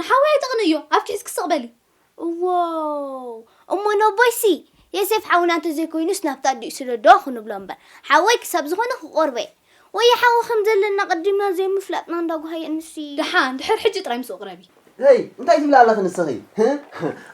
ንሓወይ ኣይተቕንእዮ ኣብ ኪሕዝኪ ስቕ በሊ። እዎው እሞ ነቦይሲ የሴፍ ሓውና እንተዘይኮይኑስ ናብቲ ኣዲኡ ስደዶ ክንብሎ እምበር ሓወይ ክሳብ ዝኾነ ክቆርቦ እየ ወየ ሓው ከምዘለና ኣቐዲምና ዘይምፍላጥና እንዳ ጓሃየ እንስይ። ደሓን ድሕር ሕጂ ጥራይ ምስኡ ቅረቢ። ህይ እንታይ ትብሊ ኣለኺ ንስኺ ህእ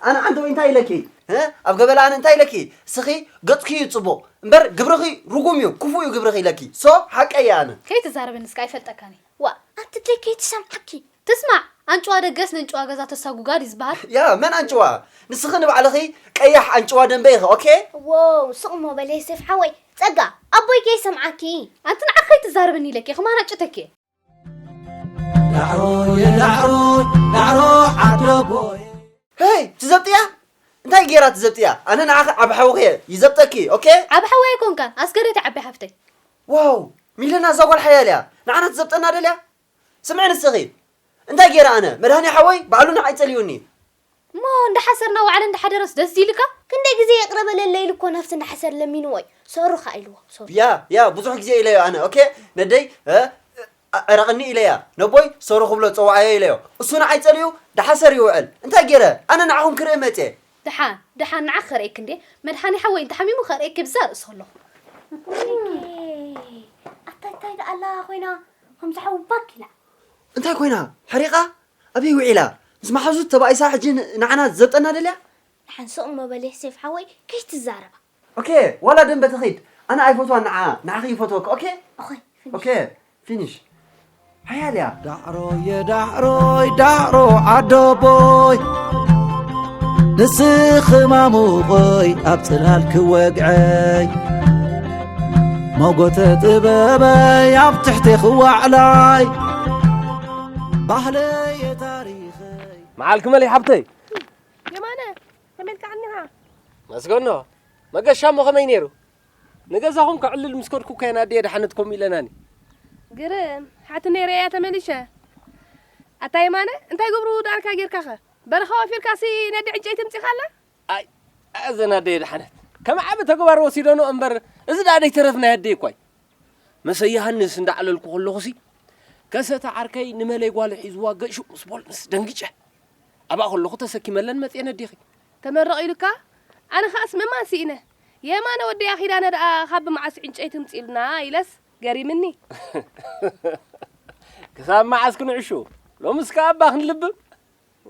ኣነ ዓንተወይ እንታይ ኢለኪ። ህእ ኣብ ገበላ ኣነ እንታይ ኢለኪ እስኺ ገጽኪ እዩ ጽቡቕ እምበር ግብርኺ ርጉም እዩ ክፉእ እዩ ግብርኺ ኢለኪ so ሓቀይ እየ ኣነ። ከይትዛረበኒ እስከ ኣይፈልጠካን እየ ዋእ። ኣቲ ደይ ከይትሰምዓኪ። ትስማዕ ኣንጭዋ ደገስ ነንጭዋ ገዛ ተሳጉጋ ድዩ ዝባሃል። ያ መን ኣንጭዋ ንስኺ ንባዕልኺ ቀያሕ ኣንጭዋ ደንበ ኢኺ ኦኬ። ዎው ስቅ እሞ በል የሴፍ ሓወይ ጸጋ ኣቦይ ከይሰምዓኪ። ኣንቲ ንዓኺ ከይትዛረብኒ ኢለኪ ከም ኣናጭተኪ እየ። ዳዕሮየ ዳዕሮ ዳዕሮ ዓዶ ቦየ። ሄይ ትዘብጥያ እንታይ ጌራ ትዘብጥያ ኣነ ንዓኺ ዓቢ ሓውኺ እየ ይዘብጠኪ ኦኬ። ዓቢ ሓወይ ኣይኮንካን ኣስገሬት እያ ዓባይ ሓፍተይ። ዋው ሚለና እዛ ጓል ሓያል እያ ንዓና ትዘብጠና ደልያ ስምዒ ንስኺ እንታይ ጌረ ኣነ መድሃኔ ሓወይ ባዕሉ ንዓይ ጸሊኡኒ። እሞ እንዳ ሓሰር እና ወዓለ እንዳ ሓደረስ ደስ ድይልካ? ክንደይ ግዜ ይቅረ በለለይ ኢሉ እኮ ናብቲ እንዳ ሓሰር ለሚንዎ እዩ ሰሩ ከኣ ኢልዎ ሰሩ። ያ ያ ብዙሕ ግዜ ኢለዮ ኣነ ኦኬ ነደይ ዕረቅኒ ኢለያ ነቦይ ሰሩ ክብሎ ጸውዓዮ ኢለዮ እሱ ንዓይ ጸሊኡ ዳሓሰር ይውዕል እንታይ ጌረ ኣነ ንዓኹም ክርኢ መጽየ። ደሓን ደሓን ንዓኺ ከርእየኪ እንዴ መድሓኔ ሓወይ እንተ ሓሚሙ ከርእየኪ ብዛ ርእሲ ከለኹ። ወይኔ ኣታ እንታይ ደኣላ ኮይና። ከምዚ ሓዊ ባክ ኢላ። እንታይ ኮይና ሓሪቃ ኣበይ ውዒላ ምስ መሓዙት ተባኢሳ ሕጂ ንዓና ክትዘብጠና ደልያ። ድሓን ስቕ እሞ በል ዮሴፍ ሓወይ ከይትዛረባ። ኦኬ ዋላ ደምበ ትኺድ ኣነ ኣይፈትዋን ንዓኣ ንዓኺ ይፈትወኪ ኦኬ። ኦኬ ኦኬ ፊኒሽ ሓያል እያ። ዳዕሮየ ዳዕሮይ ዳዕሮ ዓዶቦይ ንስኺ ማሙቆይ ኣብ ጽላል ክወግዐይ ሞጎተ ጥበበይ ኣብ ትሕቲኽ ዋዕላይ ባህለየ ታሪኸይ መዓልኪ መለይ ሓብተይ የማነ ከመይ ኢልካ ኣኒኻ መስገኖ መገሻ እሞ ከመይ ነይሩ ንገዛኹም ከዕልል ምስ ከድኩ ከየን ኣድየ ድሓነት ከምኡ ኢለናኒ ግርም ሓቲ ነይረ እያ ተመሊሸ ኣታ የማነ እንታይ ገብሩ ደኣልካ ጌርካኸ በረኻ ወፊርካሲ ነዲ ዕንጨይቲ ምፂኻላ ኣይ ኣይ እዘን ኣደየ ደሓነት ከም ዓቢ ተግባር ወሲደንኦ እምበር እዚ ደኣ ደይተረፍ ናይ ኣደይ እኳ እዩ መሰ ዮሃንስ እንዳዕለልኩ ከለኹሲ ከሰተ ዓርከይ ንመለይ ጓሉ ሒዝዋ ገሹ ምስ ቦልንስ ደንጊጨ ኣብኣ ከለኹ ተሰኪመለን መጽየ ነዴኺ ተመረቕ ኢሉካ ኣነ ከኣስ ምእማን ስኢነ የማነ ወደያ ኪዳነ ደኣ ካብ ብመዓስ ዕንጨይቲ እምጽኡልና ኢለስ ገሪምኒ ክሳብ መዓስ ክንዕሹ ሎምስ ከኣ እባ ክንልብም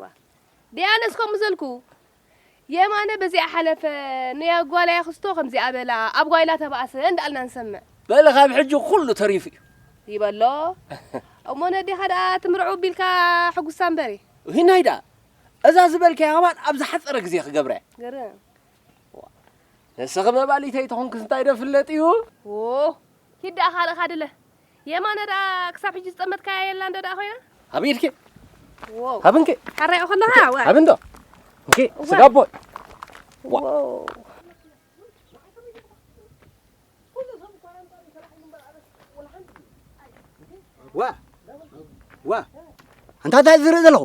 ዋእ ደይ ኣነስ ከምኡ ዘልኩ የማነ በዚኣ ሓለፈ ነያ ጓላያ ክስቶ ከምዚኣ በላ ኣብ ጓይላ ተባእሰ እንዳ ኣልና ንሰምዕ። በል ካብ ሕጂ ኩሉ ተሪፉ እዩ። ይበሎ እሞ ነዴኻ ደኣ ትምርዕው ቢልካ ሕጉሳ እምበሪ። ሂናይ ደኣ እዛ ዝበልካያ ከማን ኣብ ዝሓጸረ ግዜ ክገብራ እየ። ግርም። ንስኺ መባሊተይ ተኾንክስ እንታይ ዶ ፍለጥ እዩ። ዎው ኪድ ደኣ ካልእ ካድለ። የማነ ደኣ ክሳብ ሕጂ ዝጠመትካያ የላን ዶ ደኣ ኮይና? ሃቢ ኢልኪ ዋው ሃቢ እንኪ ካራዮ ከለኻ ዋይ ሃቢ እንዶ እንኪ ስጋ ኣቦይ ዋው ዋ ዋ ኣንታ እንታይ ዝርኢ ዘለኹ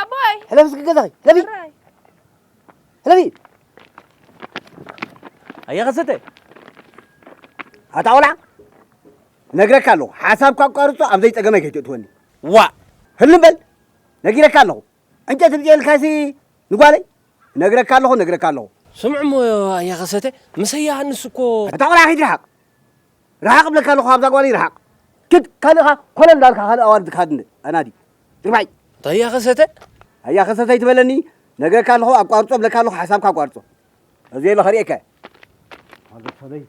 ኣቦይ ሕለፍ እስኪ ገዛኺ ሕለፊ ሕራይ ሕለፊ ኣየ ከሰተ ኣታ ቆልዓ ነግረካ ኣለኹ ሓሳብካ ኣቋርፆ ኣብ ዘይፀገመይ ከይትእትወኒ ዋእ ህልም በል ነጊረካ ኣለኹ ዕንጨት ብፅየልካሲ ንጓለይ ነግረካ ኣለኹ ነግረካ ኣለኹ ስምዑ እሞ ኣየ ከሰተ ምሰያ ሃንስ እኮ ኣታ ቆልዓ ከይትርሓቕ ርሓቕ እብለካ ኣለኹ ካብዛ ጓለይ ርሓቕ። ክድ ካልእ ከኣ ኮለል እንዳበልካ ካልእ ኣዋልድ ካድነ ኣናዲ። ርባይ። ኣያ ከሰተ። ኣያ ከሰተ ኣይትበለኒ ነገርካ ኣለኹ ኣቋርጾ እብለካ ኣለኹ ሓሳብካ ኣቋርጾ። ኣብዘይ ኣሎ ከርእየካ እየ። ኣዞ ሰበይ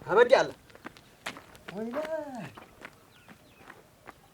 ታበዲ ኣላ። ወይለይ።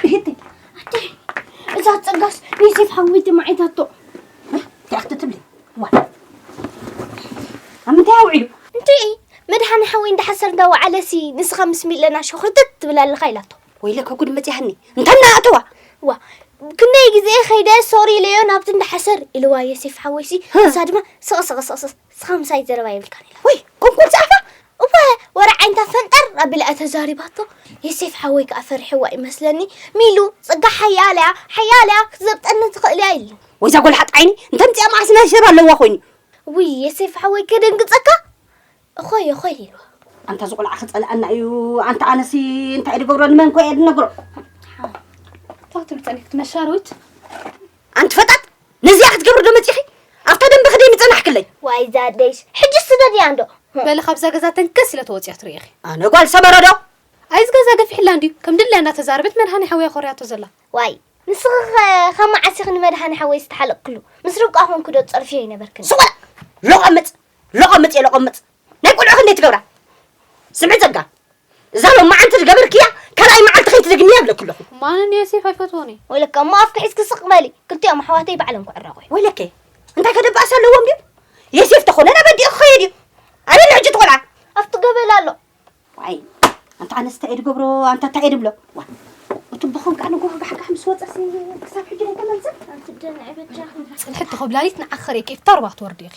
ክህቲ ኣደይ እዛ ፀጋስ ናይ ሴፍ ሓወይቲ ማዓይታቶ እንታይ ክትትብሊ ዋ ኣብ ምንታይ ኣውዒሉ እንዴ መድሓኒ ሓወይ እንዳሓሰር እንዳወዓለሲ ንስኻ ምስ ሚለና ሸኹርትት ትብል ኣለኻ ኢላቶ ወይለከ ጉድ መፅያኒ እንታይ እናኣተዋ ዋ ክንደይ ግዜ ከይደ ሶሪ ኢለዮ ናብቲ እንዳሓሰር ኢልዋ የሴፍ ሓወይሲ ንሳ ድማ ስቕስቕስቕስቕ ንስኻ ምሳይ ዘረባ የብልካን ኢላ ወይ ቁንቁን ጸርፋ እወ ወረ ዓይነታ ፈንጠር ኣቢላ ተዛሪባቶ የሴፍ ሓወይ ከዓ ፈሪሕዋ ይመስለኒ ሚሉ ጽጋ ሓያልያ ሓያልያ ክትዘብጠኒ ትኽእል እያ ኢሉ ወይዛ ጎልሓጥ ዓይኒ እንተምፅኣ መዓስ ናይ ሰብ ኣለዋ ኮይኑ ውይ የሴፍ ሓወይ ከደንግጸካ እኾይ እኾይ ኢሉ ኣንታ እዚ ቆልዓ ክፀልኣና እዩ ኣንታ ኣነሲ እንታይ ድገብሮ ንመን ኮ እየ ድነግሮ ታትሉ ፀኒት መሻርዊት ኣንቲ ፈጣጥ ነዚኣ ክትገብሪ ዶ መጺኺ ኣብታ ደንበ ክደይ ምጸናሕክለይ ዋይ እዛ ኣደይስ ሕጂ ስደድያ እንዶ በሊ ካብዛ ገዛ ተንከስ ኢለ ተወጽያ ትርእኺ ኣነ ጓል ሰመረ ዶ ኣይዚ ገዛ ገፊሕላ እንድዩ ከም ድላያ እንዳተዛረበት መድሃኔ ሓወይ እያ ኮርያቶ ዘላ። ዋይ ንስኺ ከ ካብ መዓስ ኢኺ ንመድሃኔ ሓወይ ዝተሓለቕክሉ ምስ ርብቃ ኮንኩ ዶ ትጸርፍዮ ኣይነበርክን ስቕ በላ ሎቖምጽ ሎቖምጽ እየ ሎቖምጽ ናይ ቁልዑ ክንደይ ትገብራ ስምዒ ጸጋ እዛ ሎማዓንቲ ዝገበርክያ ካልኣይ መዓልቲ ከይትደግምያ ይብለኪ ኣለኹ። እሞ ኣነ እኒ ዮሴፍ ኣይፈትዎን እየ። ወይለከ እሞ ኣፍኪ ሒዝኪ ስቕ በሊ። ክልቲኦም ኣሕዋተይ ባዕሎም ክዕረቑ እዮም። ወይለከ እንታይ ከ ደባእስ ኣለዎም ድዩ? ዮሴፍ ተኾነ ናብ ኣዲኡ ክኸይድ እዩ። ኣበይ ኣሎ ሕጂ እቲ ቆልዓ? ኣብቲ ገበል ኣሎ። ዋይ ኣንታ ኣነስ እንታይ እየ ዝገብሮ ኣንታ እንታይ እየ ዝብሎ። ዋይ እቲ ብኹም ከኣ ንጎሆ ጋሕጋሕ ምስ ወጸሲ ክሳብ ሕጂ ዘይተመልሰ። ኣንቲ ደንዒ በጃኺ። ጽንሕቲ ኮብላሊት ንዓኺ ክርእየኪ እየ። እታ ሩባ ክትወርዲ ኢኺ።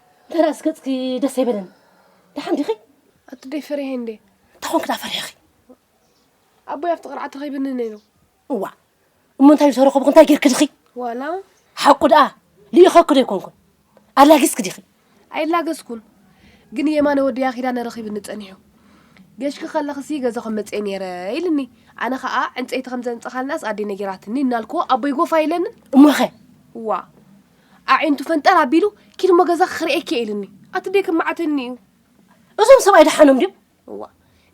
ተራእስ ገጽኪ ደስ ኣይበለን ደሓን ዲኺ ኣቱደይ ፈሪሐ እንዴ ታኾንክ ዳ ፈሪሕኺ ኣቦይ ኣብቲ ቅርዓት ረኺብኒ ነይሩ እዋ እሞ እንታይ ዝተረኸብኹ እንታይ ጌርክ ድኺ ዋላ ሓቁ ደኣ ልኢኸኩ ዶ ኣይኮንኩን ኣላጊስክ ዲኺ ኣይላገስኩን ግን የማነ ወድያ ኪዳነ ረኺብኒ ጸኒሑ ገሽኪ ከለኽሲ ገዛ ከም መጽኤ ነይረ ኢልኒ ኣነ ከዓ ዕንፀይቲ ከም ዘንፀኻልናስ ኣዴ ነጊራትኒ እናልኩዎ ኣቦይ ጎፋ ኢለንን እሞኸ እዋ ኣዒንቱ ፈንጠር ኣቢሉ ኪድ እሞ ገዛኺ ክርእየኪ እየ ኢሉኒ። ኣቲ ደይ ከማዓተኒ እዩ። እዞም ሰብኣይ ደሓኖም ድዮም? እዋ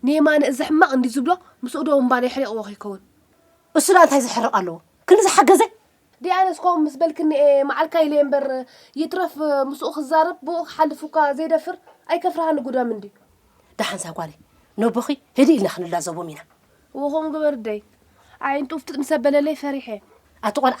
ንየማነ እዚ ሕማቕ እንድዩ ዝብሎ ምስኡ ዶ እምባ ናይ ኣሕሪቕዎ ከይከውን። እሱ ደኣ እንታይ ዘሕርቕ ኣለዎ ክንድዚ ሓገዘ። ደይ ኣነስ ከምኡ ምስ በልክኒ እየ መዓልካ ኢለየ እምበር ይትረፍ ምስኡ ክዛረብ ብኡ ክሓልፍ እኳ ዘይደፍር ኣይከፍርሃኒ ጉዳም እንድዩ። ደሓን እዛ ጓለይ ነቦኺ ህድእ ኢልና ክንላዘቦም ኢና። እዎ ከምኡ ግበሪ ደይ። ኣዒንቱ ፍጥጥ ምስ ኣበለለይ ፈሪሐ። ኣቲ ቆልዓ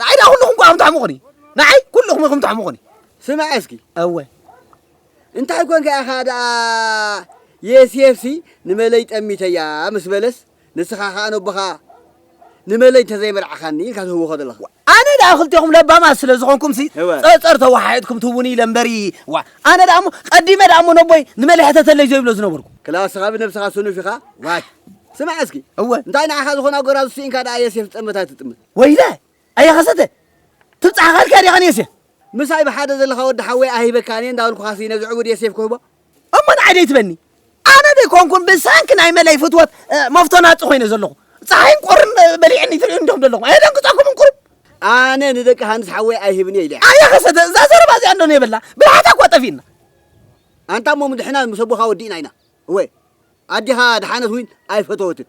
ንዓይ ዳኣ ኩልኹም ኳ ከምተሕሙቑኒ ንዓይ ኩልኹም ኢኹም ተሕሙቑኒ ስማዕ እስኪ እወ እንታይ ኮንካ ኢኻ ደኣ የስየፍሲ ንመለይ ጠሚተያ ምስ በለስ ንስኻ ኸኣ ነቦኻ ንመለይ እንተዘይመርዓኻኒ ኢልካ ትህውኾ ዘለኻ ኣነ ደኣ ክልቴኹም ለባማት ስለ ዝኾንኩምሲ እወ። ጸርጸር ተወሓሒጥኩም ትህቡኒ ኢለ እምበሪ ዋ ኣነ ደኣ እሞ ቀዲመ ደኣ እሞ ነቦይ ንመለይ ሕተተለይ ዘይብሎ ዝነበርኩ ክላስኻ ብነብስኻ ስኑፍ ኢኻ ዋይ ስማዕ እስኪ እወ እንታይ ንዓኻ ዝኾና ጎራዙ ስኢንካ ደኣ የስየፍ ዝጠመታ ኣይትጥምት ወይለ ኣየ ከሰተ ትብጻሕኻ ኢልካያ ዲኻ ንየሴፍ ምሳይ ብሓደ ዘለኻ ወዲ ሓወይ ኣይህበካን እየ እንዳበልኩኻሲ ነዚ ዕቡድ የሴፍ ክህቦ እሞ ንዓይ ደይትበኒ ኣነ ደይኮንኩን ብሰንኪ ናይ መለይ ፍትወት መፍቶ ናጽ ኮይነ ዘለኹ ፀሓይን ቁርን በሊዕኒ ትርእዩ እንዲኹም ዘለኹም ኣየደንግጸኩምን ቁሩብ ኣነ ንደቂ ሃንስ ሓወይ ኣይህብን እየ ኢለ ኣየ ከሰተ እዛ ዘረባ እዚኣ እንዶ ነየበላ ብልሓታ እኳ ጠፊእና ኣንታ እሞ ምድሕና ምስ ኣቦኻ ወዲእና ኢና እወ ኣዴኻ ድሓነት እውን ኣይፈተወትን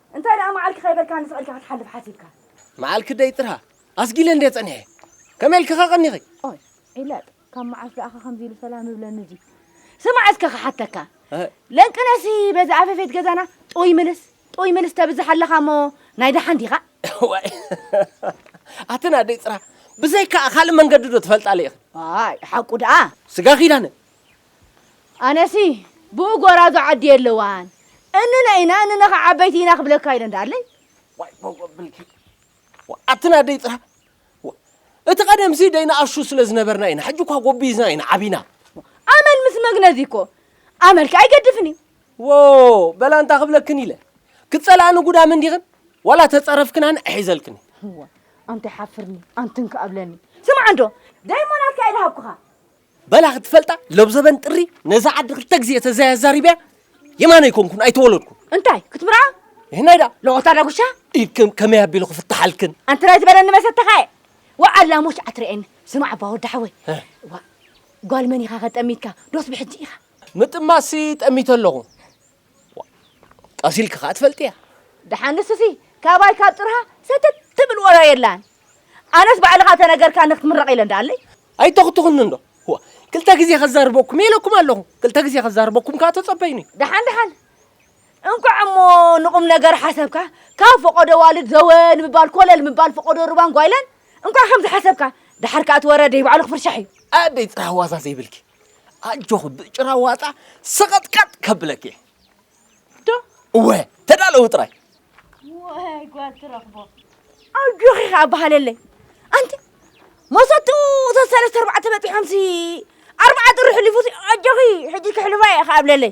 እንታይ ደኣ መዓልኪ ከይበልካኒ ስቅልካ ክትሓልፍ ሓሲብካ? መዓልኪ ደይ ጥርሃ ኣስጊለ እንድየ ጸኒሐ። ከመይ ኢልኪ ከ ቀኒኺ? ኦይ ዒላጥ ካብ መዓስ ደኣ ከ ከምዚ ኢሉ ሰላም ይብለኒ እዚ። ስማዕ እስከ ክሓተካ ለንቅነሲ በዚ ኣፈፌት ገዛና ጡይ ምልስ ጡይ ምልስ ተብዝሕ ኣለኻ እሞ ናይ ደሓን ዲኻ? ዋይ ኣትን ኣደይ ጥርሃ ብዘይካኣ ካልእ መንገዲ ዶ ትፈልጣ ለኢኺ? ኣይ ሓቁ ደኣ። ስጋ ኪዳነ ኣነሲ ብኡ ጎራዙ ዓዲ የለዋን እንነ ኢና እንነ ከ ዓበይቲ ኢና ክብለካ ኢለ እንዳለይ ዋይ ሞጎ ብልኪ ኣትና ደይ ጥራ እቲ ቀደምሲ ደይ ንኣሹ ስለ ዝነበርና ኢና ሕጂ እኳ ጎቢዝና ኢና ዓቢና ኣመል ምስ መግነዚ እኮ ኣመልኪ ኣይገድፍን እዩ ወ በላ እንታ ክብለክን ኢለ ክትጸላእኒ ጉዳም እንዲኽን ዋላ ተጸረፍክናን እሒዘልክን ኣንተ ሓፍርኒ ኣንትን ክኣብለኒ ስምዓ እንዶ ደይሞናትካ ኢለ ሃብኩኻ በላ ክትፈልጣ ለብዘበን ጥሪ ነዛ ዓዲ ክልተ ግዜ ተዘያዛሪብያ የማነ ይኮንኩን ኣይተወለድኩ እንታይ ክትምርዓ ይህናይ ዳ ለቆታ ዳጉሻ ኢድክም ከመይ ኣቢሉ ክፍታሓልክን ኣንቲ ናይ ዝበለኒ መሰተኻ እየ ወዓላ ሞች ኣትርኤኒ ስማዕ እባ ወዲ ሓወይ እዋ ጓል መን ኢኻ ከጠሚትካ ዶስ ብሕጂ ኢኻ ምጥማሲ ጠሚተ ኣለኹ ጠሲልኪ ከኣ ትፈልጥያ ደሓን ንስሲ ካባይ ካብ ጥርሃ ሰተት ትብል ወረ የላን ኣነስ ባዕልኻ ተነገርካ ንክትምረቕ ኢለ እንዳኣለይ ኣይተኽትኹኒ እንዶ ዋ ክልተ ግዜ ከዛርበኩም የለኩም ኣለኹ ክልተ ግዜ ከዛርበኩም ከኣ ተጸበይኒ ደሓን ደሓን እንኳዕ እሞ ንቑም ነገር ሓሰብካ ካብ ፈቐዶ ዋልድ ዘወ ንምባል ኮለል ምባል ፈቐዶ ሩባን ጓይላን እንኳዕ ከምዚ ሓሰብካ ደሓር ከኣ እቲ ወረ ደይባዕሉ ክፍርሻሕ እዩ ኣደይ ጽራሕ ዋዛ ዘይብልኪ ኣጆኺ ብጭራ ዋጣ ሰቐጥቀጥ ከብለኪ እየ ዶ እወ ተዳለዊ ጥራይ ወይ ጓል ትረኽቦ ኣጆኺ ከዓ በሃለለይ ኣንቲ መሰቱ ተሰለስተ ኣርባዕተ በፂሖምሲ ኣርባዓ ጥሪ ሕሊፉሲ ኣጆኺ ሕጂ ክሕልፋ እየ ከዓ እብለለይ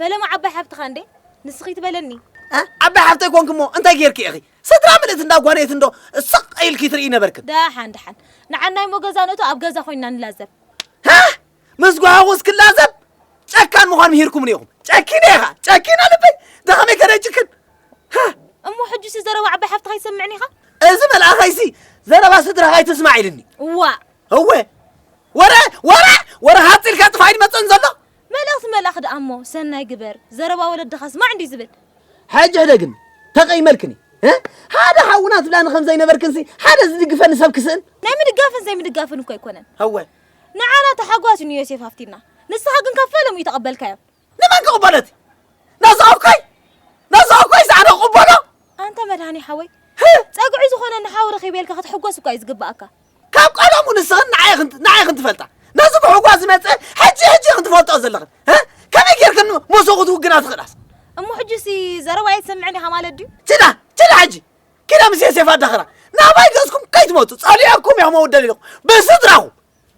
ፈለማ ዓባይ ሓፍትኻ እንዴ ንስኺ ትበለኒ ዓባይ ሓፍተይ ኮንክ እሞ እንታይ ጌርክ ኢኺ ስድራ ምልእት እንዳ ጓነየት እንዶ ስቕ ኢልኪ ትርኢ ነበርክን ደሓን ደሓን ንዓና እሞ ገዛ ንእቶ ኣብ ገዛ ኮይንና ንላዘብ ምስ ጓሃቑስ ክላዘብ ጨካን ምዃን ምሂርኩምኒ ኢኹም ጨኪነ ኢኻ ጨኪና ልበይ ደኸመይ ከደጅክን እሞ ሕጁሲ ዘረባ ዓባይ ሓፍትኻ ይሰምዕኒ ኢኻ እዚ መልኣኸይሲ ዘረባ ስድራኻ ይትስማዕ ኢልኒ እዋ እወ ወረ ወረ ወረ ሃፂልካ ጥፋ ይመፅን ዘሎ መልእኽቲ መልኣኽ ደኣ እሞ ሰናይ ግበር፣ ዘረባ ወለድኻ ስማዕ እንድዩ ዝብል። ሕጂ ሕደ ግን ተቐይመልክን እየ። ሓደ ሓውና ትብላኒ ከም ዘይነበርክንሲ ሓደ ዝድግፈኒ ሰብ ክስእን? ናይ ምድጋፍን ዘይምድጋፍን እኮ ኣይኮነን። እወ። ንዓና ታሓጓስ እዩ ንዮሴፍ ሃፍቲና፣ ንስኻ ግን ካብ ፈለምኡ እይተቐበልካዮ። ንመን ክቕበሎ እቲ ናዝሃብኮይ ናዝሃብኮይ ሰኣነ ክቕበሎ? ኣንታ መድሃኔ ሓወይ፣ ጸግዒ ዝኾነኒ ሓው ረኺበ ኢልካ ክትሕጎስ እኳ እዩ ዝግበኣካ። ካብ ቀደሙ ንስኽን ንዓይ ኽን ትፈልጣ ነዚ ብሕጓ ዝመፀ ሕጂ ሕጂ ኽን ትፈልጦ ዘለኽን ከመይ ጌርክን ሞሶ ክትውግና ትኽእላስ እሞ ሕጂሲ ዘረባ ኣይትሰምዕን ኢኻ ማለት ድዩ ችዳ ችዳ ሕጂ ኪዳ ምስ ሴፍ ኣዳኽራ ናባይ ገዝኩም ከይትመፁ ፀሊኦኩም እዮም ኣውደል ኢኹም ብስድራኹም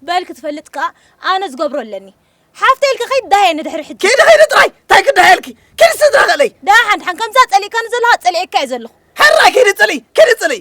በል ክትፈልጥ ከዓ ኣነ ዝገብሮ ኣለኒ ሓፍተይ ኢልካ ከይትዳሃየ ንድሕሪ ሕጂ ከይዲ ከይዲ ጥራይ እንታይ ክዳሃየልኪ ኪዲ ስድራ ኽእለይ ዳሓን ድሓን ከምዛ ፀሊእካኒ ዘለኻ ፀሊኤካ እየ ዘለኹ ሕራይ ኪዲ ፅልይ ኪዲ ፅልይ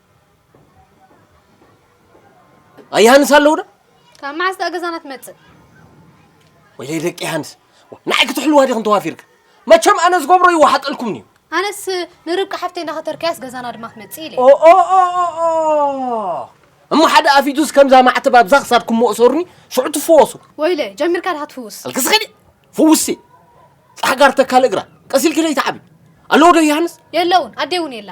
ኣያሃንስ ኣለዉ ዶ ካብ መዓስ ደኣ ገዛና ትመጽእ ወይለይ ደቂ ሃንስ ንዓይ ክትሕልዋ ዲኽን ተዋፊርክ መቸም ኣነ ዝገብሮ ይወሓጠልኩምኒ እዩ ኣነስ ንርብቃ ሓፍተይ እንዳኸተርካያስ ገዛና ድማ ክትመጽእ ኢለ እሞ ሓደ ኣፊቱስ ከምዛ ማዕተብ ኣብዛ ክሳድኩም መእሰሩኒ ሽዑ ትፈወሱ ወይለ ጀሚርካ ድኻ ትፍውስ ኣልክስኸዲ ፍውሲ ጻሕጋር ተካል እግራ ቀሲልኪ ለይትዓቢ ኣለዎ ዶ ይሃንስ የለውን ኣዴ እውን የላ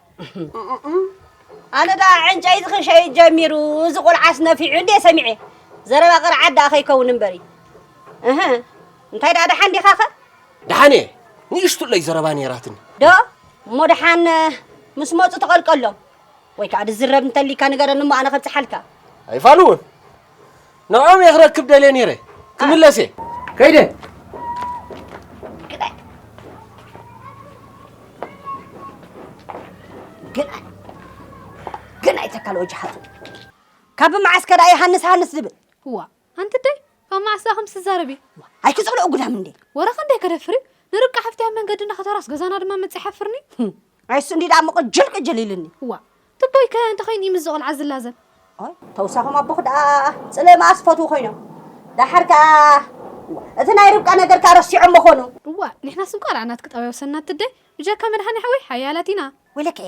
ኣነ ደኣ ዕንጨይቲ ክሸይጥ ጀሚሩ እዚ ቆልዓስ ነፊዑ እንዴ ሰሚዐ ዘረባ ቅርዓት ደኣ ከይከውን እምበሪ እህ እንታይ ደኣ ደሓን ዲኻ ኸ ደሓን እየ ንእሽቱለይ ዘረባ ነይራትኒ ዶ እሞ ደሓን ምስ መፁ ተቐልቀሎም ወይ ከዓ ድዝረብ እንተሊካ ንገረኒ እሞ ኣነ ከብፅሓልካ ኣይፋልውን ንዖም እየ ክረክብ ደልየ ነይረ ክምለስ እየ ከይደ ግናይ ግናይ ተካል ወጅ ሓቱ ካብ መዓስ ከዳ ሃንስ ሃንስ ዝብል እዋ ኣንቲ ደይ ካብ መዓስ ዳኹም ትዛረቢ ኣይክፀልኦ ጉዳም እንዴ ወረኸ እንዴ ከደፍሪ ንርቃ ሓፍትያ መንገዲ እናኸተራስ ገዛና ድማ መፅእ ሓፍርኒ ኣይሱ እንዲ ዳሞ ቅጅል ቅጅል ኢልኒ እዋ ትቦይ ከ እንታይ ኮይኑ እዩ ምስዚ ቆልዓ ዝላዘብ። ኣይ ተውሳኾም ኣቦኺ ደኣ ጽልኢ መኣስ ክፈትዉ ኮይኖም ደሓር ከኣ እዋእ እቲ ናይ ርብቃ ነገር ከኣ ረሲዖሞ ኮኑ። እዋእ ንሕናስ እንቋላዕ ናትኪ ጠባይ ወሰድና ትደይ ብጀካ መድሓኒሓወይ ሓያላት ኢና። ወይለከ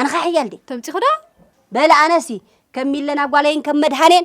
ኣነኸ ሓያል ድየ። ተምጺኹ ደኣ። በል ኣነሲ ከም ሚለና ጓለይን ከም መድሃኔን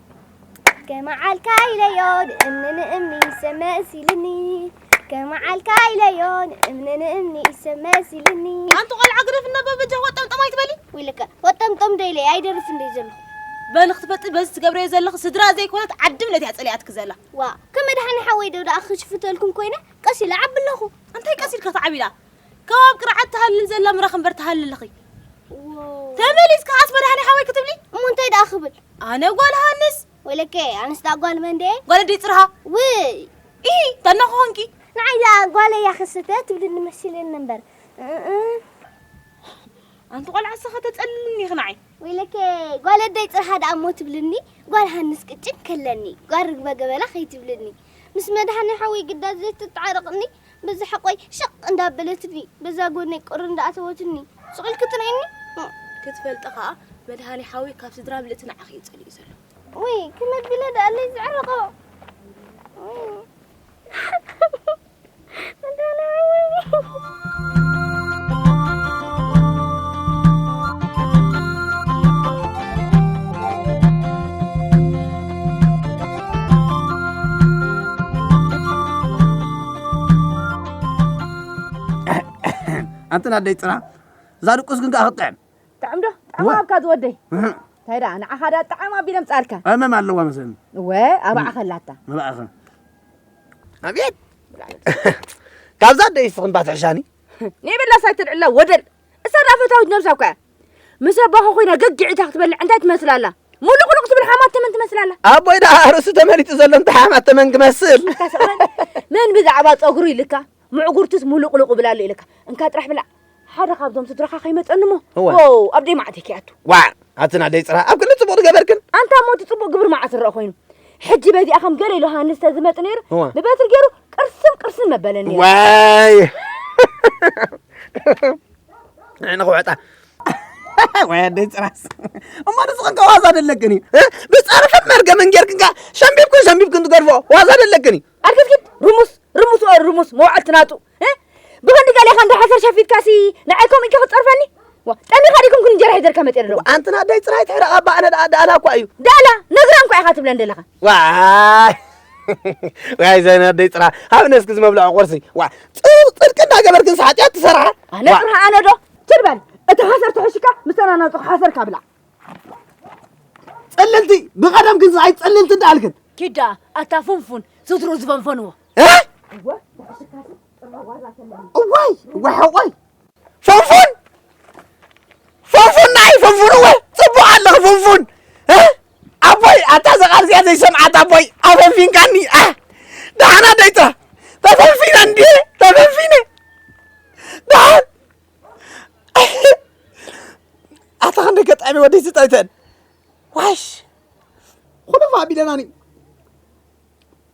ከመዓልካ ኢለዮ ንእምኒ ንእምኒ ሰብ መሲልኒ ከመዓልካ ኢለዮ ንእምኒ ንእምኒ ሰብ መሲልኒ ኣንቲ ቆልዓ ግደፍ እናበ በጃ ወጠምጠም ኣይትበሊ ውልቀ ወጠምጠም ዶ ኢለ ኣይደርፍን ዶ ዘሎ በል ክትፈጥ በዚ ትገብረዮ ዘለኺ ስድራ ዘይኮነት ዓዲ እምነት እያ ጸሊኣትኪ ዘላ ዋ ከመድሓኒ ሓወይ ዶ ደኣ ክሽፍተልኩም ኮይነ ቀስ ኢለ ዓቢ ኣለኹ እንታይ ቀስ ኢልካ ትዓቢ ደኣ ካብ ኣብ ቅርዓት ትሃልል ዘላ ምራኽ እምበር ትሃልል እኺ ተመሊስ ከዓስ መድሃኒ ሓወይ ክትብሊ እሞ እንታይ ደኣ ክብል ኣነ ጓል ሃንስ ወለከ ኣነስ ደኣ ጓል መንደ ጓል ደይ ፅርሃ ውይ ኢ ተና ክኾንኪ ንዓይ ደኣ ጓል እያ ክስተ ትብልኒ መሲለኒ እምበር ኣንቲ ቆልዓ ሰኸ ተፀልልኒ ኢኺ ንዓይ ወይለከ ጓል ኣደይ ፅርሃ ደኣ እሞ ትብልኒ ጓል ሃንስ ቅጭን ከለኒ ጓል ርግበ ገበላ ከይትብልኒ ምስ መድሃኒ ሓወይ ግዳ ዘይትተዓረቕኒ በዛ ሕቆይ ሸቅ እንዳበለትኒ በዛ ጎነይ ቁሪ እንዳኣተወትኒ ሱቅ ኢልኪ ትርእይኒ ክትፈልጢ ከኣ መድሃኔ ሓውይ ካብ ስድራ ምልእቲ ንዓኺ እዩ ጸሊኡ ዘሎ ውይ ከመይ ኣቢለ ደኣለይ ዝዕረቆ ኣንተን ኣደይ ፅራ እዛ ድቁስ ግን ከዓ ክትጥዕም ጥዕም ዶ ጥዕም ኣብካ ዝወደይ እንታይ ደኣ ንዓኻ ዳ ጥዕም ኣቢለ ምፃልካ ኣመም ኣለዋ መሰለኒ እወ ኣባዓ ከላታ መባእኸ ኣብየት ካብዛ ኣደይ ስኽምባ ትሕሻኒ ንይበላስ ኣይትልዕላ ወደል እሳ ደኣ ፈታዊት ነብሳ እኳ እያ ምስ ኣቦኻ ኮይና ገጊዕ ኢታ ክትበልዕ እንታይ ትመስል ኣላ ሙሉቕሉቕ ትብል ሓማት ተመን ትመስል ኣላ ኣቦይ ደኣ ርእሱ ተመሊጡ ዘሎ እንታይ ሓማት ተመን ክመስል መን ብዛዕባ ጸጉሩ ኢልካ ምዕጉርቱስ ሙሉቕሉቕ እብል ኣሎ ኢልካ እንካ ጥራሕ ብላዕ ሓደ ካብዞም ስድራኻ ከይመጸኒ እሞ ዎው ኣብ ደይ መዓተይ ከይኣቱ ዋዕ ኣትን ኣደይ ጽራ ኣብ ክንዲ ጽቡቕ ገበርክን ኣንታ እሞ እቲ ጽቡቕ ግብሪ መዓስ ዝረአ ኮይኑ ሕጂ በዚኣ ከም ገለ ኢሉ ሃንስ ተዝመጽእ ነይሩ ብበትሪ ገይሩ ቅርስም ቅርስም መበለኒ ዋይ ንኽውዕጣ ወይ ኣደይ ፅራስ እሞ ንስኽን ዋዛ ደለክን እዩ ብፀርሕን መርገምን ጌርክን ከዓ ሸምቢብክን ሸምቢብክን ትገድፎ ዋዛ ደለክን እዩ ኣርክስኪት ርሙስ ርሙስ ርሙስ መውዓልቲ ናጡ ብክንዲ ገሌኻ እንዳ ሓሰር ሸፊትካሲ ንዓይ ከምኡ ኢልካ ክትጸርፈኒ ጠሚኻ ዲኩም ኩን እንጀራ ሒዘልካ መጽረ ዶ ኣንቲ ናደይ ጽራይ ትሕረቓ ባዕነ ደኣ ደኣላ እኳ እዩ ደኣላ ነግራ እንኳ ኢኻ ትብለን ዘለኻ ዋይ ዋይ ዘናደይ ጽራ ኣብ ነስኪ ዝመብልዖ ቁርሲ ዋ ጽርቂ እንዳገበርክ ንስ ሓጢኣት ትሰርሓ ኣነ ጽርሃ ኣነ ዶ ትርበል እቲ ሓሰር ተሐሽካ ምሰናናጽኹ ሓሰር ካብላ ጽልልቲ ብቐደም ግን ዝኣይ ጽልልቲ እንዳኣልክን ኪዳ ኣታ ፉንፉን ስትሩ ዝፈንፈንዎ እዋይ እዋይ ሓቆይ ፍንፉን ፍንፉን ናይ ፍንፉን እወ ፅቡቅ ኣለኺ ፍንፉን ኣቦይ ኣታ ዘቃል እዚኣ ዘይሰምዓት ኣቦይ ኣፈንፊንካኒ ደሓና ደይታ ተፈንፊነ እንዲ ተፈንፊነ ደሓን ኣታ ክንደ ገጣሚ ወደይ ዝጠይተን ዋሽ ኩሉ ፋቢለናኒ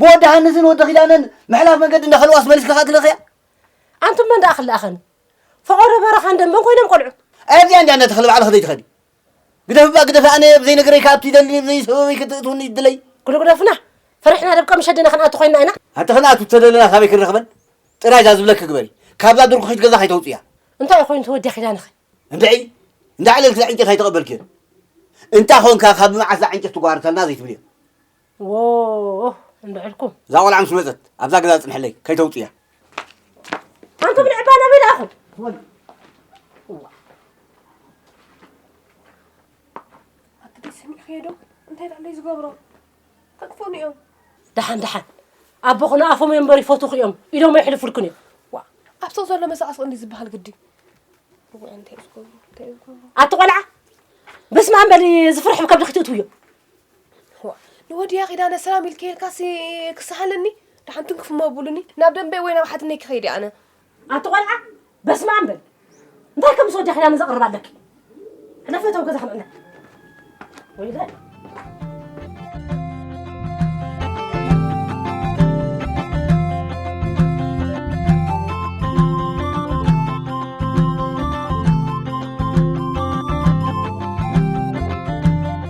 ብወዲ ሃንስን ወዲ ኪዳነን ምሕላፍ መገዲ እንዳኸልዋስ መሊስካ ከኣ ትልእኽያ ኣንቱም መን ደኣ ክልኣኸኒ ፈቐዶ በረኻን ደንበን ኮይኖም ቆልዑት ኣብዚኣ እንዲያ እንዳተኸሊ ባዕልኺ ዘይትኸዲ ግደፍባ ግደፊ ኣነ ብዘይነገረይ ካብቲ ደሊ ብዘይሰበበይ ክትእትውኒ ይድለይ ጉልጉደፍና ፈሪሕና ደብቀ መሸድና ክንኣቱ ኮይና ኢና ኣቲ ክንኣቱ እተደለና ካበይ ክንረኽበን ጥራይ እዛ ዝብለኪ ግበሪ ካብዛ ድርኩኺት ገዛ ከይተውፅያ እንታይ ኮይኑ ተወዲያ ኪዳንኺ እንድዒ እንዳዕለልኪ ዕንጨት ኣይተቐበልክዮን እንታ ኾንካ ካብ መዓስ ዕንጨት ትጓርተልና ዘይትብልዮ ዎህ እንድዕልኩም። እዛ ቆልዓ ምስ መጸት ኣብዛ ገዛ ጽንሕለይ ከይተውጽያ። ኣንቱም ንዕባ ናበይ ደኣኹም? ወል እዋ ኣቲ ደይ ሰሚዕኽዮ ዶ እንታይ ደኣለይ ዝገብሮ ከጥፍኡኒ እዮም። ደሓን ደሓን ኣቦኹ ንኣፎም እዮም እምበር ይፈትኹ እዮም ኢዶም ኣይሕልፉልክን እዮም። ዋ ኣብ ሰው ዘሎ መሳዕስኦ እንዲ ዝበሃል ግዲ ኣቲ ቆልዓ በስመ ኣም በሊ ዝፍርሕ ከብድኺ ትእትውዮ ንወድያ ኪዳነ ሰላም ኢልኪ ኢልካሲ ክሰሃለኒ ደሓን ትንክፍ እሞ ብሉኒ ናብ ደንበይ ወይ ናብ ሓትነይ ክኸይድ እየ ኣነ ኣቲ ቆልዓ በስመ ኣም በል እንታይ ከም ምስ ወድያ ኪዳነ ዘቕርብ ኣለኪ ሕለፈ ተው ገዛ ከምዕና ወይለ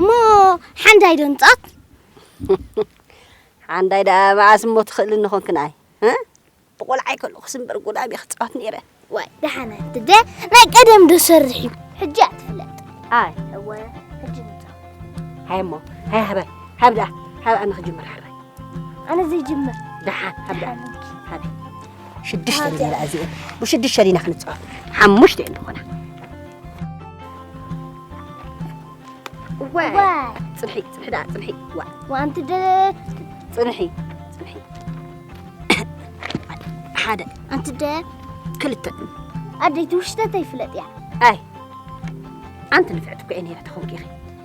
እሞ ሓንዳይ ዶ ንጻት ሓንዳይ ደኣ መዓስ እሞ ትኽእልኒ ኾንክን ኣይ ብቆልዓይ ከለኹስ እምበር ጉዳም እየ ክፃወት ነይረ ዋይ ደሓነ ትደ ናይ ቀደም ዶ ሰርሕ እዩ ሕጂ እያ ትፍለጥ ኣይ እወ ሕጂ ንፃወት ሃይ እሞ ሃይ ሃበ ሃብ ደኣ ሃብ ኣነ ክጅምር ሓራይ ኣነ ዘይጅምር ደሓን ሃብ ደኣ ሃብ ሽዱሽተ ሊና ደኣ እዚኤን ብሽዱሽተ ሊና ክንጻወት ሓሙሽተ እየን ዝኾና ዋይ ጽንሒ ጽንሒ ደኣ ጽንሒ ዋ ወኣንቲ ደ ጽንሒ ጽንሒ ሓደ ኣንቲ ደ ክልተ ኣደይቲ ውሽተተይ ፍለጥ እያ ኣይ ኣንቲ ንፍዕቲ እኮ እየ ነይረ ተኾንኪ ኢኺ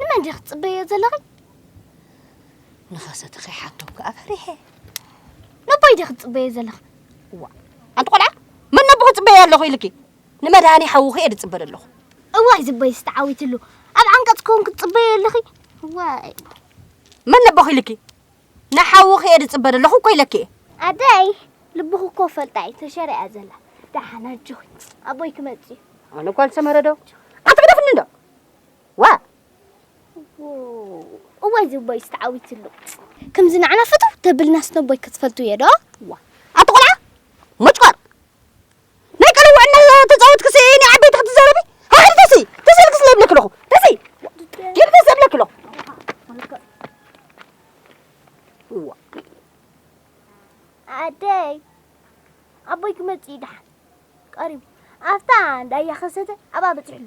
ንመን ዲኺ ትጽበዮ ዘለኺ? ንኸሰተ ከይሓቶም ከኣ ፈሪሐ። ነቦይ ዲኺ ትጽበዮ ዘለኺ? እዋ ኣንቲ ቆልዓ መን ነቦኺ ጽበዮ ኣለኹ ኢልኪ? ንመድሃኒ ሓውኺ እየ ዝጽበ ዘለኹ። እዋይ ዝበይስ ተዓዊትሉ ኣብ ዓንቀጽ ኮንክ ትጽበዮ ኣለኺ? እዋይ መን ነቦኺ ኢልኪ? ንሓውኺ እየ ዝጽበ ዘለኹ እኮ ኢለኪ እየ። ኣደይ ልብኹ እኮ ፈልጣ እዩ ተሸሪያ ዘላ። ደሓን ኣጆኺ ኣቦይ ክመጽእ እዩ። ኣነ ጓል ሰመረ ዶ ኣትግደፍኒ ዶ ዋእ እዋይ እዚ ቦይስ ተዓዊትሉ ከምዚ ንዓና ፍትው ተብልናስ ነቦይ ክትፈልጡ እየ ዶ ኣቲ ቆልዓ ሞጭቆር ናይ ቀልውዕ እና ተፃወትክሲ ናይ ዓበይቲ ክትዘረቢ ሃኸል ተሲ ተሰልክስ ለብለክ ኣለኹ ተሲ ጌም ተሰብለክ ኣለኹ ኣደይ ኣቦይ ክመፅእ እዩ ደሓን ቀሪቡ ኣብታ እንዳያ ከሰተ ኣብኣ በፂሑ ኣሎ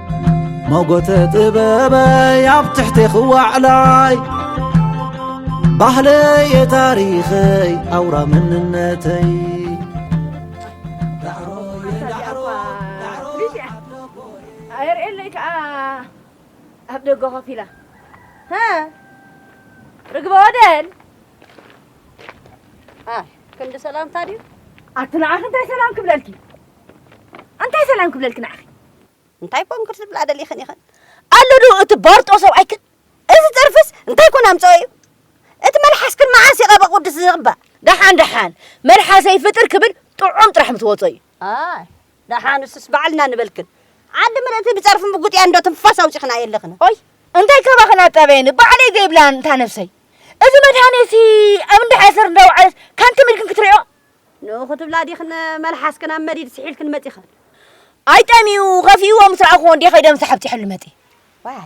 ሞጎተ ጥበበይ ኣብ ትሕቲ ክዋዕላይ ባህለየ ታሪኸይ ኣውራ መንነተይ ኣየርእየለይ ከዓ ኣብ ደገ ኮፍ ኢላ ርግበ ወደል ክንዲ ሰላምታ ድዩ ኣቲ ንዓኺ እንታይ ሰላም ክብለልኪ እንታይ ሰላም ክብለልኪ ንዓኺ እንታይ ኮን ክትብላ ደሊኽን ኢኽን? ኣሎ ዶ እቲ ባርጦ ሰብኣይክን? እዚ ጸርፍስ እንታይ ኮን ኣምጸኦ እዩ? እቲ መልሓስክን መዓስ እዩ ቀብሪ ቅዱስ ዝቕባእ? ደሓን ደሓን መልሓሰይ ፍጥር ክብል ጥዑም ጥራሕ ምትወጾ እዩ። ኣይ ደሓን ንሱስ ባዕልና ንበልክን። ዓዲ ምልእቲ ብጸርፊ ምጉጥ እያ እንዶ ትንፋስ ኣውጺኽን ኣየለኽን። ኦይ እንታይ ካባኽን ኣጣበየኒ ባዕለይ ዘይብላን እታ ነብሰይ። እዚ መድሃኔሲ ኣብ እንዳ ሓሰር እንዳወዓለት ካን ተመልክን ክትሪኦ? ንኡ ክትብላ ዲኽን መልሓስክን ኣብ መዲድ ስሒልክን መጺኽን። ኣይ ጠምዩ ከፊእዎ ምስ ረኣኹዎ እንዴ ከይደ ምስ ሓብቲ ሕሉ መጺ። ዋይ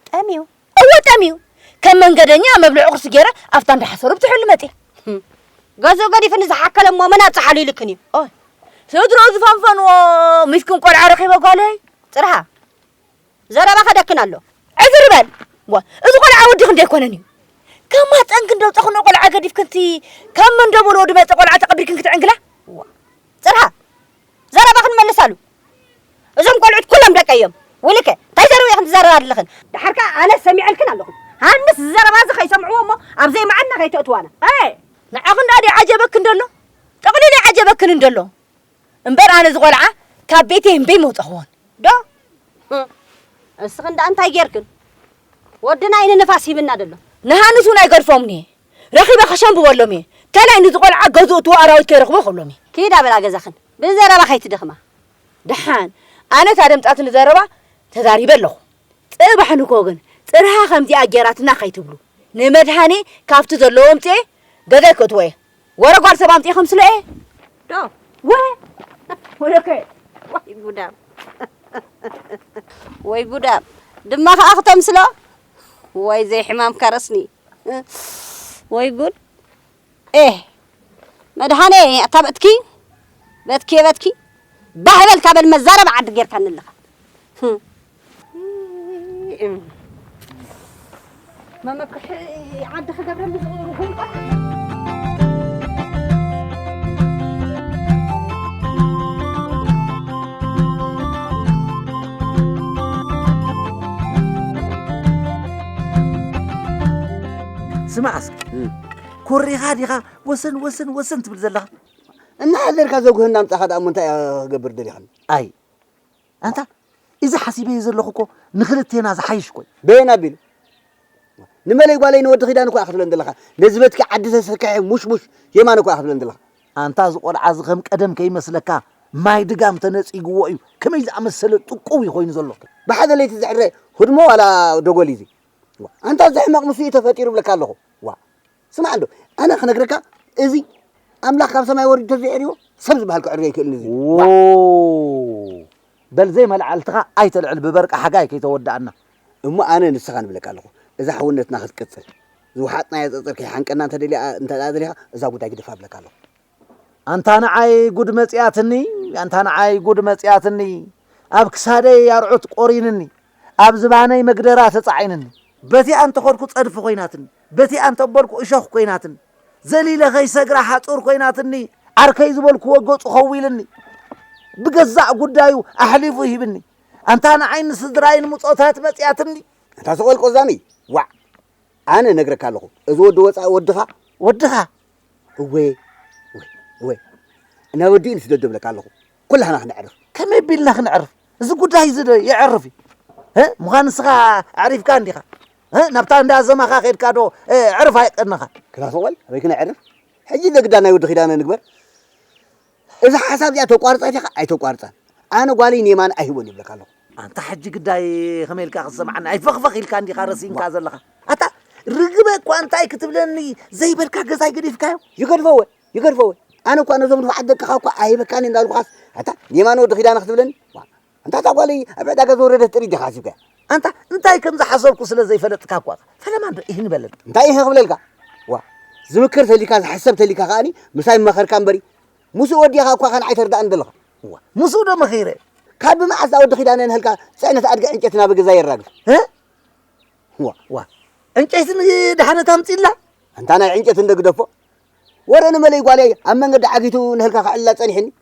ጠምዩ? እወ ጠምዩ። ከም መንገደኛ መብልዒ ቁርሲ ገይረ ኣብታ እንዳ ሓሰሩ ብትሕሉ መጺ። ገዝኡ ገዲፉ ንዝሓከለ እሞ መን ኣብጽሓሉ ኢልክን እዩ። ኦይ ስድርኡ ዝፈንፈንዎ ምስኪን ቆልዓ ረኺበ ጓለይ ጽርሃ። ዘረባ ከደክን ኣሎ ዕዝር በል ዋ እዚ ቆልዓ ወዲ ክንደይ ኣይኮነን እዩ ከማፀን ክንደው ፀኽኖ ቆልዓ ገዲፍ ክንቲ ካብ መንደቦል ወዲ መፀ ቆልዓ ተቐቢርክን ክትዕንግላ ዋ ፅርሃ ዘረባ ክንመልስ ኣሉ እዞም ቆልዑት ኩሎም ደቀ እዮም ውልከ እንታይ ዘረባ ኢኽን ትዛረባ ኣለኽን ድሓር ከዓ ኣነ ሰሚዐልክን ኣለኹ ሃንስ ዘረባ እዚ ከይሰምዕዎ እሞ ኣብ ዘይመዓና ከይተእትዋና ንዓኽን ዳኣ ዓጀበክን ደሎ ጠቕሊሉ ዓጀበክን እንደሎ እምበር ኣነ እዚ ቆልዓ ካብ ቤተይ እምበይ መውጸኽዎን ዶ እስኽን ደኣ እንታይ ጌርክን ወድና እዩ ንንፋስ ሂብና ደሎ ንሃንስ እውን ኣይገድፎምን እየ ረኺበ ከሸንብበሎም እየ ካልኣይ ንዚ ቆልዓ ገዝኡ እትዎ ኣራዊት ከይረኽቦ ክብሎም እየ ኪዳ በላ ገዛኽን ብዘረባ ከይትድኽማ ደሓን ኣነ እታ ደምጻትኒ ዘረባ ተዛሪበ ኣለኹ ጽባሕ ንግሆ ግን ጽርሃ ከምዚኣ ጌራትና ከይትብሉ ንመድሃኔ ካብቲ ዘለዎ ኣምጺኤ ገዛይ ከእትዎ እየ ወረ ጓል ሰብ ኣምጺኤ ከምስሎ'የ ዶ ወ ወለከ ወይ ጉዳም ወይ ጉዳም ድማ ከኣ ክተምስሎ ወይ ዘይሕማም ከረስኒ ወይ ጉድ ኤህ መድሃኔ ኣታ በትኪ በትኪ በትኪ ባህ በልካ በል መዛረብ ዓዲ ጌርካኒ ኣለኻ መመክሒ ዓዲ ክገብረኒ ስማዕ እስኪ ኮሪኻ ዲኻ ወሰን ወሰን ወሰን ትብል ዘለኻ እናሓለልካ ዘጉህና ኣምፃኻ ደኣ እሞ እንታይ እያ ክገብር ደሊኻኒ ኣይ ኣንታ እዚ ሓሲበዮ ዘለኹ እኮ ንኽልቴና ዝሓይሽ እኮ እዩ። በየን ኣቢሉ ንመለይ ጓለይ ንወዲ ኪዳን እኳ ክትብለን ዘለኻ ነዚ በትኪ ዓዲ ተሰኪሐ ሙሽሙሽ የማነ እኳ ክትብለን ዘለኻ ኣንታ እዚ ቆልዓ እዚ ከም ቀደም ከይመስለካ ማይ ድጋም ተነጺግዎ እዩ ከመይ ዝኣመሰለ ጥቁው እዩ ኮይኑ ዘሎ ብሓደ ለይቲ ዝሕረ ህድሞ ዋላ ደጎል እዩ እዚ ኣንታ እዚ ሕመቕ ምስኡ እዩ ተፈጢሩ እብለካ ኣለኹ ዋ ስማዕ እንዶ ኣነ ክነግረካ እዚ ኣምላኽ ካብ ሰማይ ወሪዱ ተዘይዕርዎ ሰብ ዝበሃል ክዕሪ ኣይክእልን እዚ በል ዘይመልዓልትኻ ኣይተልዕል ብበርቂ ሓጋይ ከይተወዳእና እሞ ኣነ ንስኻ ንብለካ ኣለኹ እዛ ሕውነትና ክትቅፅል ዝወሓጥናያ ፀፀር ከይሓንቀና እንተደልያ እንተ ደሊኻ እዛ ጉዳይ ግደፋ ብለካ ኣለኹ ኣንታ ንዓይ ጉድ መጺኣትኒ ኣንታ ንዓይ ጉድ መጺኣትኒ ኣብ ክሳደይ ኣርዑት ቆሪንኒ ኣብ ዝባነይ መግደራ ተጻዒንኒ በቲኣ እንተኸድኩ ጸድፊ ኮይናትኒ በቲኣ እንተበልኩ እሾኽ ኮይናትኒ ዘሊለ ከይሰግራ ሓጹር ኮይናትኒ ዓርከይ ዝበልክዎ ገጹ ከዊልኒ ብገዛእ ጉዳዩ ኣሕሊፉ ሂብኒ ኣንታ ንዓይ ንስድራይን ምጾታት መጺኣትኒ ኣንታ ሰቆል ቆዛሚ ዋዕ ኣነ ነግረካ ኣለኹ እዚ ወዲ ወጻኢ ወድኻ ወድኻ እወ እወ እወ እና ወዲኡ ንስደዶ እብለካ ኣለኹ ኩላህና ክንዕርፍ ከመይ ቢልና ክንዕርፍ እዚ ጉዳይ እዚ ዶ ይዕርፍ እዩ ምዃን ንስኻ ኣዕሪፍካ እንዲኻ ናብታ እንዳ ዘማኻ ከድካ ዶ ዕርፍ ኣይቀንኻ ክላሰቆል ኣበይ ክነዕርፍ ሕጂ ዘግዳ ናይ ወዲ ኪዳነ ንግበር እዛ ሓሳብ እዚኣ ተቋርጻ ዲኻ ኣይተቋርጻን ኣነ ጓለይ ንየማነ ኣይህቦን ይብለካ ኣለኹ። ኣንታ ሕጂ ግዳይ ከመይ ኢልካ ክትሰምዓኒ ኣይፈኽፈኽ ኢልካ እንዲኻ ረሲንካ ዘለኻ ኣታ ርግበ እኳ እንታይ ክትብለኒ ዘይበልካ ገዛይ ገዲፍካዮ ይገድፈወ ይገድፈወ ኣነ እኳ ነዞም ንፉዓት ደቅኻ እኳ ኣይህበካን እንዳ በልኩኻስ ኣታ ንየማነ ወዲ ኪዳነ ክትብለኒ ኣንታ እታ ጓለይ ኣብ ዕዳጋ ዝወረደት ጥሪት ዲኻ ሓሲብካያ? ኣንታ እንታይ ከም ዝሓሰብኩ ስለ ዘይፈለጥካ እኳ ፈለማ እምበር እህ ንበለኒ። እንታይ እህ ክብለልካ? ዋእ ዝምክር ተልዩካ ዝሕሰብ ተልዩካ ከኣኒ ምሳይ ምመኸርካ እምበሪ ምስኡ ወዲኻ እኳ ከንዓይ ተርድኣኒ ደለኻ። ዋእ ምስኡ ዶ መኺረ? ካብ ብመዓስ እታ ወዲ ኪዳነ ንህልካ ጽዕነት ኣድጊ ዕንጨቲ ናብ ገዛይ የራግፍ? እህ ዋእ ዋእ ዕንጨይቲ ንድሓነት ኣምጽላ? ኣንታ ናይ ዕንጨቲ እንዶ ግደፎ ወረ ንመለይ ጓለይ ኣብ መንገዲ ዓጊቱ ንህልካ ከዕልላ ጸኒሑኒ።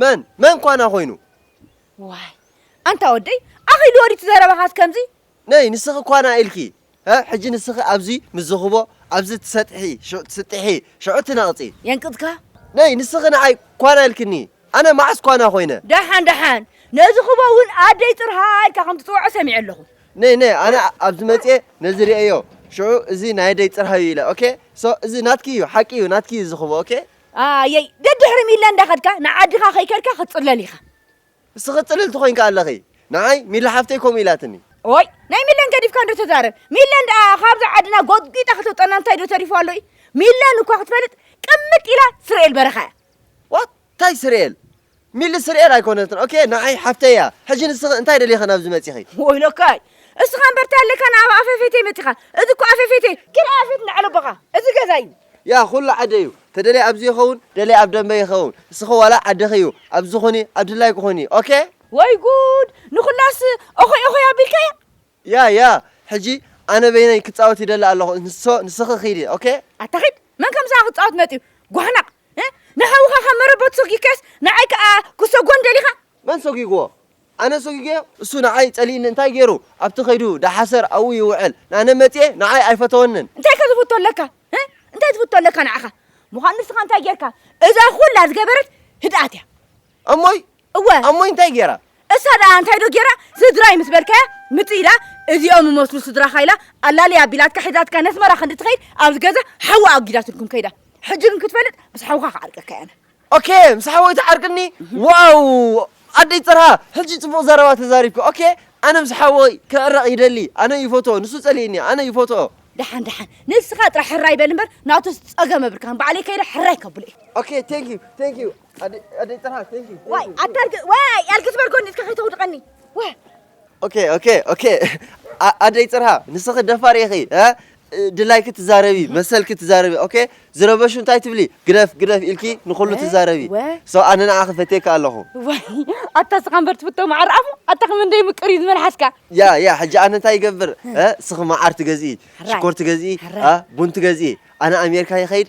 መን መን ኳና ኮይኑ ዋይ ኣንታ ወደይ ኣኺሉ ወዲቲ ዘረባኻስ ከምዚ ነይ ንስኺ ኳና ኢልኪ ሕጂ ንስኺ ኣብዚ ምስ ዝኽቦ ኣብዚ ትሰጥሒ ትስጥሒ ሽዑ ትነቕጺ የንቅጽካ ነይ ንስኺ ንዓይ ኳና ኢልክኒ ኣነ መዓስ ኳና ኮይነ ደሓን ደሓን ነዚ ክቦ እውን ኣደይ ጥርሃ ኢልካ ከም ትጽውዖ ሰሚዐ ኣለኹ ነይ ነይ ኣነ ኣብዚ መጽኤ ነዚ ርእዮ ሽዑ እዚ ናይ ኣደይ ጥርሃ እዩ ኢለ ኦኬ ሶ እዚ ናትኪ እዩ ሓቂ እዩ ናትኪ እዩ ዝኽቦ ኦኬ ኣየይ ደድሕሪ ሚላ እንዳኸድካ ንዓድኻ ከይከድካ ክትጽለል ኢኻ። ንስኺ ጽልልቲ ኮይንኪ ኣለኺ ንዓይ ሚላ ሓፍተይ ከምኡ ኢላትኒ። ኦይ ናይ ሚላን ገዲፍካ እንዶ ተዛረብ ሚላን ደኣ ካብዚ ዓድና ጎጥጒጣ ከተውጸና እንታይ ዶ ተሪፉ ኣሎ እዩ ሚላን እኳ ክትፈልጥ ቅምጥ ኢላ ስርኤል በረኻ እያ። ዋት ታይ ስርኤል ሚሊ ስርኤል ኣይኮነትን ኦኬ ንዓይ ሓፍተይ እያ ሕጂ ንስኺ እንታይ ደሊኺ ናብዚ መጺኺ ወይለካይ እስኻ እምበር እንታይ ኣለካ ናብ ኣፈፌተይ መጺኻ እዚ እኮ ኣፈፌተይ ክልኣ ፊት ንላዕሊ ቦኻ እዚ ገዛ እዩ ያ ኩሉ ዓደይ እዩ ተደልየ ኣብዚ ይኸውን ደልየ ኣብ ደንበ ይኸውን እስኺ ዋላ ዓድኺ እዩ ኣብዚ ኹኒ ኣብ ድላይኪ ኹኒ ኦኬ ወይ ጉድ ንኹላስ ኦኾይ ኦኾይ ኣቢልካያ። ያይ ያይ ሕጂ ኣነ በይነይ ክጻወት ይደሊ ኣለኹ ንሶ ንስኺ ኺዲ ኦኬ። ኣታ ኺድ መን ከምሳኻ ክጻወት መጽዩ ጓህናቕ ንሓውኻ ካብ መረበቱ ሰጊግካዮስ ንዓይ ከኣ ክሰጎን ደሊኻ። መን ሰጊግዎ ኣነ ሰጊገዮ እሱ ንዓይ ጸሊእኒ እንታይ ጌሩ ኣብቲ ከይዱ ዳሓሰር ኣብኡ ይውዕል ኣነ መጽየ ንዓይ ኣይፈተወንን። እንታይ ከ ዝፍቶ ኣለካ እንታይ ዝፍቶ ኣለካ ንዓኻ ምዃኑ ንስኻ እንታይ ጌርካ እዛ ኹላ ዝገበረት ህድኣት እያ። እሞይ እወ እሞይ እንታይ ጌራ እሳ ደኣ እንታይ ዶ ጌራ ስድራይ ምስ በልካያ ምጥ ኢላ እዚኦም እመስሉ ስድራኻ ኢላ ኣላልያ ኣቢላትካ ሒዛትካ ነስመራ ክንዲ ትኸይድ ኣብዚ ገዛ ሓዋ ኣጒዳትልኩም ከይዳ ሕጂ ግን ክትፈልጥ ምስ ሓውካ ክዓርቀካ እያ ኦኬ ምስ ሓወይ ትዓርቅኒ ዋው ኣደይ ጥርሃ ሕጂ ጽቡቕ ዘረባ ተዛሪብካ ኦኬ ኣነ ምስ ሓወይ ክዕረቕ ይደሊ ኣነ ይፈትኦ ንሱ ጸሊእኒ ኣነ ይፈትኦ ደሓን ደሓን ንስኻ ጥራሕ ሕራይ በል እምበር ናቱ ጸገም ኣብርካን ባዕለይ ከይደ ሕራይ ከብሎ እዩ ኦኬ ቴንክ ዩ ቴንክ ዩ ኣደይ ጥራሕ ዋይ ኣዳርግ ዋይ ኣልክ ዝበርጎኒ እስከ ከይተውድቀኒ ዋይ ኦኬ ኦኬ ኦኬ ኣደይ ፅርሃ ንስኺ ደፋር ኢኺ ድላይኪ ትዛረቢ መሰልኪ ትዛረቢ ኦኬ ዝረበሹ እንታይ ትብሊ ግደፍ ግደፍ ኢልኪ ንኹሉ ትዛረቢ ሰው ኣነ ንዓኺ ፈትየካ ኣለኹ ኣታ ስኻ እምበር ትፍቶ መዓር ኣፉ ኣታ ከም እንደይ ምቅር እዩ ዝመልሓስካ ያ ያ ሕጂ ኣነ እንታይ ይገብር ስኺ መዓር ትገዝኢ ሽኮር ትገዝኢ ቡን ትገዝኢ ኣነ ኣሜሪካ ይኸይድ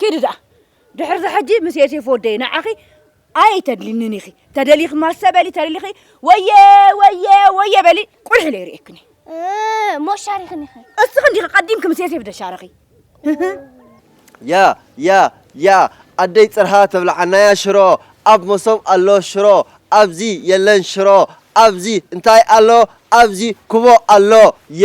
ኪዲ ደኣ ድሕርዚ ሕጂ ምስ ዮሴፍ ወደይ ንዓኺ ኣይተድልንንን ኢኺ ተደሊኺ ማሰ በሊ ተደሊኺ ወየ ወየ ወየ በሊ ቁልሒ ኢለ ይርእየክኒ እሞ ሻሪኽኒ ኢኺ እስኺ እንዲኺ ቀዲምኪ ምስ ዮሴፍ ደሻረኺ ያ ያ ያ ኣደይ ፅርሃ ተብልዓናያ ሽሮ ኣብ መሶብ ኣሎ ሽሮ ኣብዚ የለን ሽሮ ኣብዚ እንታይ ኣሎ ኣብዚ ኩቦ ኣሎ የ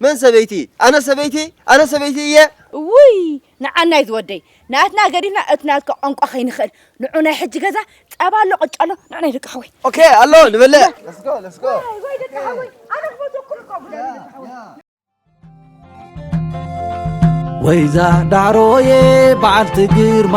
መን ሰበይቲ? ኣነ ሰበይቲ? ኣነ ሰበይቲ እየ? እውይ ንዓናይ ዝወደይ ናትና ገዲፍና እቲ ናትካ ቋንቋ ከይንኽእል ንዑ ናይ ሕጂ ገዛ ጸባ ኣሎ ቅጫ ኣሎ ንዑ ናይ ደቂ ሓወይ ኦኬ ኣሎ ንበልዕ ለስጎ ለስጎ ወይ ደቂ ሓወይ ኣነ ክፈትወኩም እኮ ጉዳይ ደቂ ሓወይ ወይዛ ዳዕሮዬ በዓልቲ ግርማ